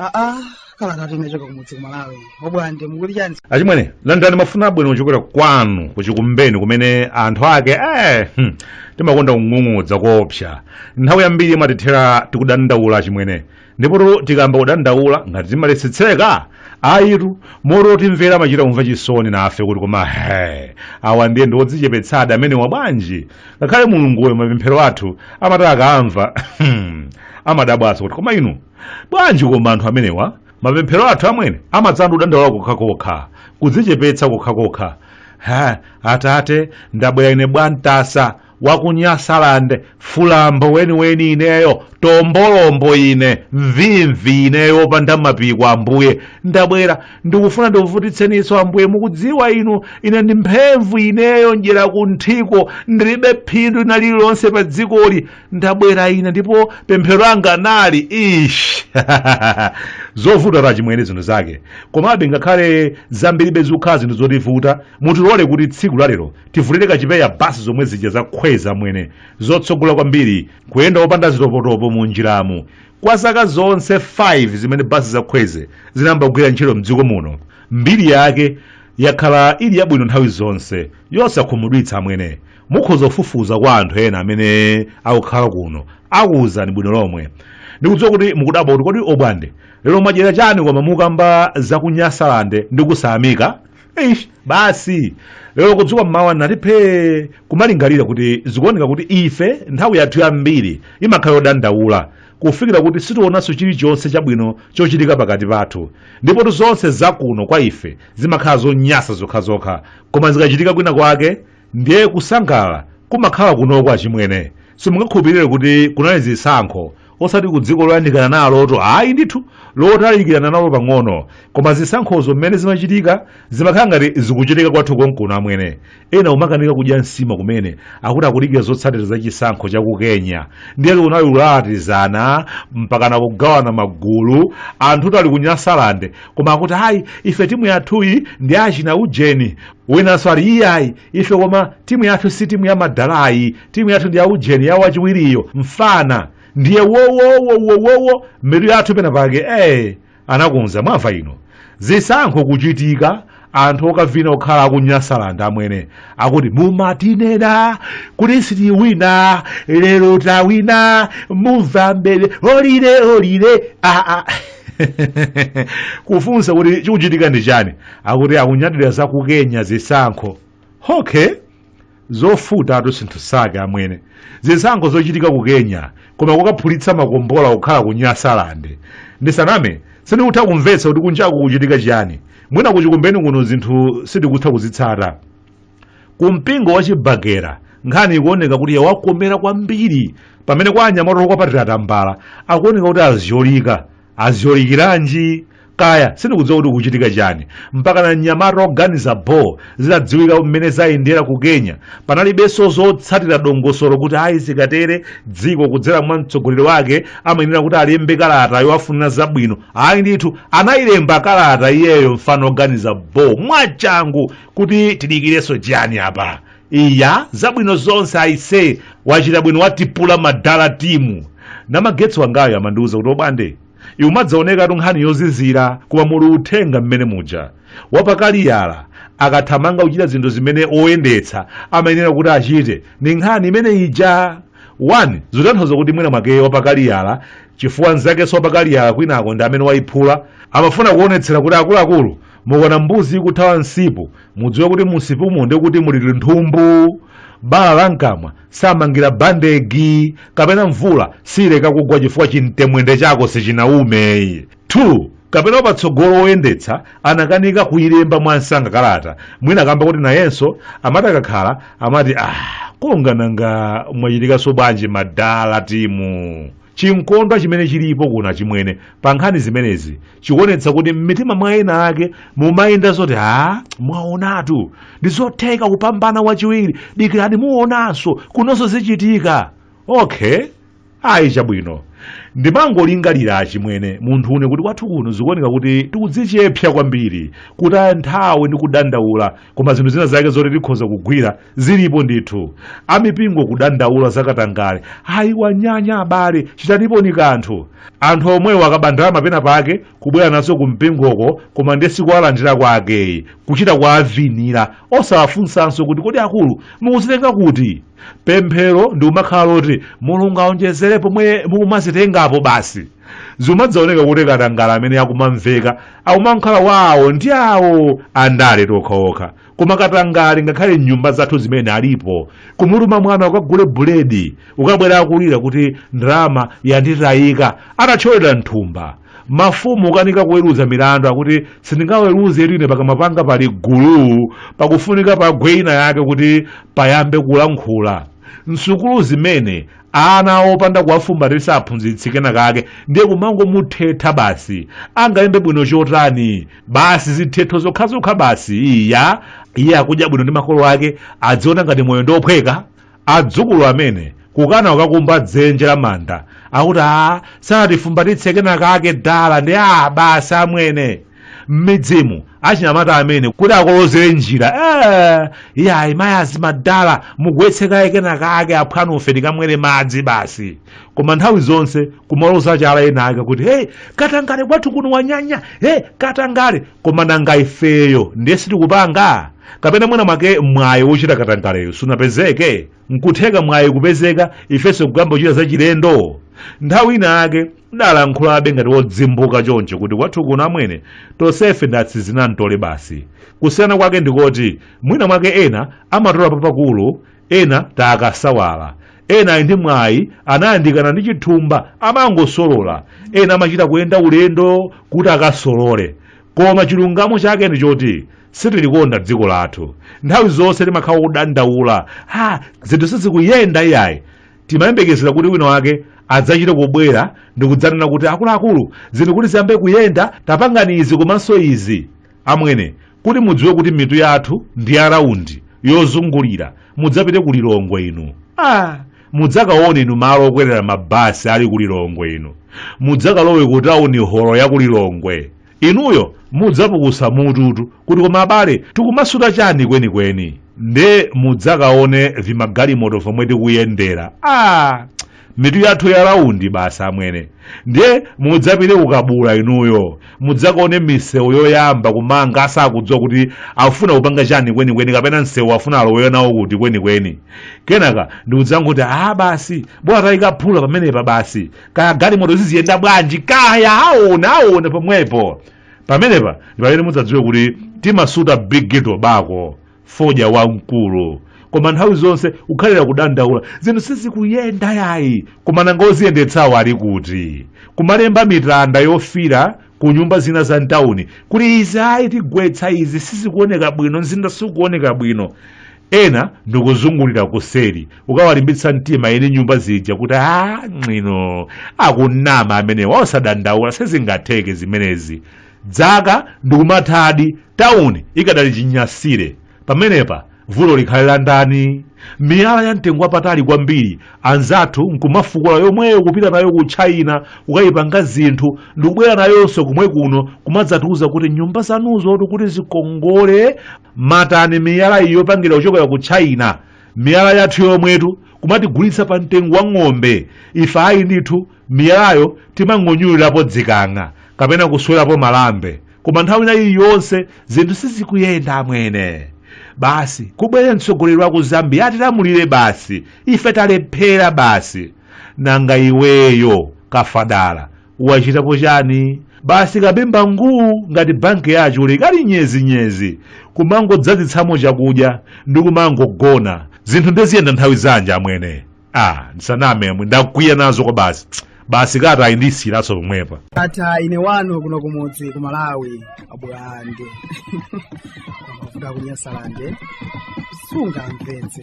aa kalata yochoka kumudzi kumalawi obwande mukuti chani achimwene landani mafuna abwino kuchokera kwanu kuchikumbeni kumene anthu ake eh, hmm, timakonda kung'ung'udza koopsa nthawi yambiri imatithera tikudandaula achimwene ndipotu tikamba kudandaula ngati timaletsetseka ayitu moti otimvera amachita kumva chisoni nafe kuti koma he awa ndiye ndi odzichepetsadi amenewa bwanji ngakhale mulunguyo mapemphero athu amati akaamva amadabwaso kuti koma inu bwanji koma anthu amenewa mapemphero athu amwene amadzangokhala kudandaula kokhakokha kudzichepetsa kokhakokha ha atate ndabwera ine bwantasa wakunyasaland fulombo weniweni ineyo tombolombo ine mvimvi ineyo opanda mapiko ambuye ndabwera ndikufuna ndikuvutitseninso ambuye mukudziwa inu ine ndi mphemvu ineyo ndyera kunthiko ndilibe phindu lina lililonse pa dzikoli ndabwera ine ndipo pemphero langa nali ish zovuta achimwene zinthu zake komabe ngakhale zambiribe zikukhala zinthu zotivuta mutilole kuti tsiku lalero tivulire kachipeya basi zomwe zija za khweze amwene zotsogola kwambiri kuyenda opanda zitopotopo mu njiramu kwa zaka zonse 5 zimene basi za khweze zinayamba kugwira ntchito mdziko muno mbiri yake yakhala ili yabwino nthawi zonse yosakhumudwitsa amwene mukhoza kufufuza kwa anthu ena amene akukhala kuno akuwuzani bwino lomwe ndikudziwa kuti mukudabwa kuti kodi obwande lero mwadyera chani koma mukamba za kunyasalande ndi kusayamika Eish, basi lero kudzuka mmawa nati phee kumalingalira kuti zikuoneka kuti ife nthawi yathu yambiri imakhala yodandaula kufikira kuti sitionanso chilichonse chabwino chochitika pakati pathu ndipotu zonse zakuno kwa ife zimakhala zonyasa zokhazokha koma zikachitika kwina kwake ndiye kusangalala kumakhala kunoko achimwene simungakhulupirire kuti kunali zisankho osati ku dziko loyandikana naloto ayi ndithu lotalikirana nalo pang'ono koma zisankhozo mmene zimachitika zimakhala ngati zikuchitika kwathu konkuno amwene ena kumakanika kudya nsima kumene akuti akudikira zotsatira za chisankho cha ku kenya ndiye kunali kulalatizana mpakana kugawana magulu anthu tili ku nyasalande koma akuti ayi ife timu yathuyi ndi achina ujeni winanso ati iyayi ife koma timu yathu si timu ya madala yi timu yathu ndi ya ujeni ya wachiwiriyo mfana ndiye wowowowowowo mitu yathu pena pake ee anakunza mwamva ino zisankho kuchitika anthu okavina okhala akunyasalanda amwene akuti mumatinena kuti sitiwina lero tawina muva mbereolire olire aa kufunsa kuti chikuchitika ndi chani akuti akunyadira za ku kenya zisankho okay zovutatu zinthu zake amwene zisankho zochitika ku kenya koma kukaphulitsa makombola kukhala ku nyasalande ndisaname sindikutha kumvetsa kuti kunjaku kuchitika chiyani mwina kuchikumbeni kuno zinthu sindikutha kuzitsata ku mpingo wa chibagera nkhani ikuoneka kuti yawakomera kwambiri pamene kwa anyamata okwapatira tambala akuoneka kuti azyolika aziyolikiranji kaya sindikudziwa kuti kuchitika chani mpakana mnyamata oganiza bho zitadziwika mmene zayendera ku kenya panalibenso zotsatira dongosolo kuti ayi zikatere dziko kudzera mwa mtsogoleri wake amayenera kuti alembe kalata yowafunira zabwino ayi ndithu anayilemba kalata iyeyo mfana oganiza bho mwachangu kuti tidikirenso chiyani apa iya zabwino zonse aise wachita bwino watipula madala timu namagetsa wangayo amandiuza kuti bwande iwe imadzaonekatu nkhani yozizira koma muli uthenga mmene muja wapakaliyala akathamanga kuchita zinthu zimene oyendetsa amayenera kuti achite ndi nkhani imene ija 1 zitanthauza kuti mwina mwake wapakaliyala chifukwa nzakenso wapakaliyala kwinako ndi amene wayiphula amafuna kuonetsera kuti akuluakulu mukaona mbuzi ikuthawa msipu mudziwe kuti mu msipumo ndi kuti muli linthumbu bala la mkamwa samangira bandegi kapena mvula siileka kugwa chifukwa chimtemwende chako sichinaume 2 kapena wapatsogolo woyendetsa anakanika kuyilemba mwansanga kalata mwina kamba kuti nayenso amati akakhala amati ah kongananga mwachitikanso bwanji madala timu Chinkondwa chimene chilipo kuno achimwene pa nkhani zimenezi chikuonetsa kuti m'mitima mwa ena ake mumayenda zoti a mwaonatu ndi zotheka kupambana wachiwiri dikirani muonanso kunonso zichitika okay ayi chabwino ndimangolingalira achimwene munthune kuti kwathu kuno zikuoneka kuti tikudzichepsa kwambiri kutaya nthawi ndi kudandaula koma zinthu zina zake zoti tikhoza kugwira zilipo ndithu amipingo kudandaula zakatangale ayi wanyanya abale chitanipo ni kanthu anthu omwewo akaba ndalama pena pake kubwera nazo ku mpingoko koma ndiye sikuwalandira kwake yi kuchita kuwavinira osawafunsanso kuti kodi akulu mukuzitenga kuti pemphero ndi kumakhala loti mulungu aonjezere pomwe mukumazitengapo basi zimadzaoneka kuti katangale amene akumamveka akumakhala wawo ndi awo andale tokhaokha koma katangale ngakhale m'nyumba zathu zimene alipo kumutuma mwana ukagule buledi kukabwera akulira kuti ndalama yanditayika atathyolera mthumba mafumu kukanika kuweruza milandu akuti sindingaweruze ine pakamwa panga pali gulu pakufunika pagwe ina yake kuti payambe kulankhula msukulu zimene ana opanda kuwafumbatitsa aphunzitsi kenakake ndiye kumangomuthetha basi angalembe bwino chotani basi zithetho zokhazokha basi iya iye akudya bwino ndi makolo ake adziona ngati moyo ndiophweka adzukulu amene kukana ukakumba dzenje la manda akuti a sanatifumbatitse kenakake dala ndi a basi amwene m'midzimu achinyamata amene kuti akolozere njira iyayi mayazi madala mugwetse kaye kena kake aphwanu ife tikamwere madzi basi koma nthawi zonse kumaloza chala ena ake kuti hey katangale kwathu kuno wanyanya hey katangale koma nanga ifeyo ndiye sitikupanga kapena mwina mwake mwayi wochita katangaleyo sunapezeke nkutheka mwayi kupezeka ifenso kukayamba kuchita zachilendo nthawi ina yake ndalankhulabe ngati wodzimbuka choncho kuti kwathu kuno amwene tonsefe ndi atsizinamtole basi kusiyana kwake ndikoti mwina mwake ena amatola papakulu ena timakasawala ena ali ndi mwayi anayandikana ndi chithumba amangosolola ena amachita kuyenda ulendo kuti akasolole koma chilungamo chake ndi choti sitilikonda dziko lathu nthawi zonse timakhala kudandaula ha zinthu sizikuyenda iyayi timayembekezera kuti wina wake adzachite kubwera ndi kudzanena kuti akuluakulu zinthu kuti ziyambe kuyenda tapangani izi komanso izi amwene kuti mudziwe kuti mitu yathu ndi ya raundi yozungulira mudzapite ku lilongwe inu ah, mudzakaone inu malo okwerera mabasi ali ku lilongwe inu mudzakalowe ku tauni holo ya ku lilongwe inuyo mudzapukusa mututu kuti koma abale tikumasuta chani kwenikweni nde mudzakaone vimagalimoto vomwe tikuyendera a mitu yathu ya raundi basi amwene ndiye mudzapite ku Kabula inuyo mudzakaone misewu yoyamba kumanga asakudziwa kuti afuna kupanga chani kwenikweni kapena msewu afuna aloweyo nawo kuti kwenikweni kenaka ndikudzangoti a basi bola tayikaphula pamenepa basi kaya galimoto ziziyenda bwanji kaya aona aona pomwepo pamenepa ndi pamene mudzadziwe kuti timasuta big ghetto bako fodya wamkulu koma nthawi zonse kukhalira kudandaula zinthu sizikuyenda yayi koma nanga oziyendetsawo ali kuti kumalemba mitanda yofira ku nyumba zina za mtawuni kuti izi ayi tigwetsa izi sizikuoneka bwino mzinda sikuoneka bwino ena ndikuzungulira kuseri ukawalimbitsa mtima eni nyumba zija kuti a ng'ino akunama amenewa osadandaula sizingatheke zimenezi dzaka ndikumathadi tawuni ikadali chinyasire pamenepa vuto likhale la ndani miyala ya mtengo wapatali kwambiri anzathu nkumafukula yomweyo kupita nayo ku china kukayipanga zinthu ndikubwera nayonso komwe kuno kumadzatiuza kuti nyumba zanuzotu kuti zikongole matani miyala iyi yopangidwa kuchokera ku china miyala yathu yomwetu kumatigulitsa pa mtengo wa ng'ombe ife ayi ndithu miyalayo timang'onyulirapo zikang'a kapena kuswerapo malambe koma nthawi ina iliyonse zinthu sizikuyenda amwene basi kubwere mtsogoleri wa ku zambia atilamulire basi ife talephera basi nanga iweyo kafadala wachitapo chani basi kapemba nguu ngati bankiya chule ikali nyezinyezi kumangodzadzitsamo chakudya ndi kumangogona zinthu ndeziyenda nthawi zanji amwene ah ndisaname amwene ndakwiya nazo kwa basi basi kata ndisiyirenso pomwepa tatha ine wanu kuno kumudzi ku malawi abulande kuvuga kunyasalande sungamvetse